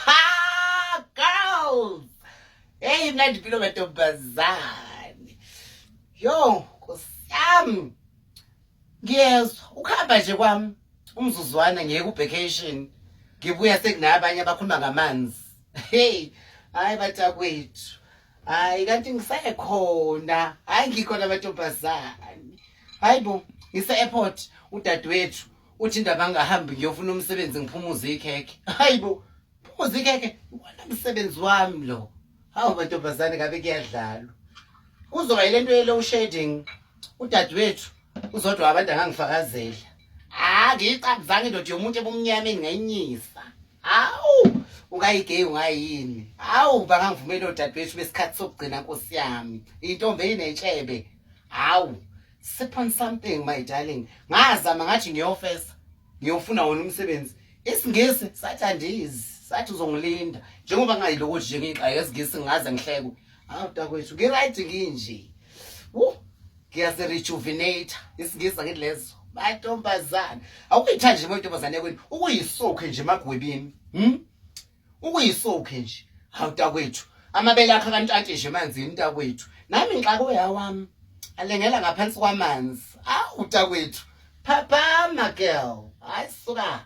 Ha girls. Hey imnandi impilo mantombazane. Yo, nkosiyami. Ngiyezwa ukhamba nje kwami umzuzwana ngiye ku vacation. Ngibuya sekunabanye abakhuluma ngamanzi. Hey, hayi batakwethu. Hayi kanti ngisekhona. Hayi ngikhona mantombazane. Hayibo, ngise airport udadewethu uthi indaba angahambi ngiyofuna umsebenzi ngiphumuze ikhekhe hayi bo phumuze ikhekhe iwona msebenzi wami lo hawu mantombazane ngabe kuyadlalwa kuzoba yile nto ye-low shading udadewethu uzodwa abantu angangifakazela ha ngiyiqabuzanga indoda yomuntu ebumnyama engingayinyisa hawu ungayigeyi ungayini hawu bangangivumeli odadewethu besikhathi sokugcina nkosi yami intombi eyinetshebe hawu Sip on something my darling. Ngazama ngathi ngiyofesa. Ngiyofuna wona umsebenzi. Isingisi sathi andizi. Sathi uzongilinda. Njengoba ngayiloko nje ngixaye isingisi ngaze ngihlekwe. Awu takwethu ngi right nginje. Woo. Ngiyazi rejuvenate. Isingisi ngithi lezo. Batontombazana. Awuyithandi nje intombazane yakwenu. Ukuyisokhe nje emagwebini. Hm? ukuyisokhe nje hawu mntakwethu amabele akho akantshantshe nje emanzini mntakwethu nami ngixake uyawami alengela ngaphansi kwamanzi awu mntakwethu phaphama girl hayi suka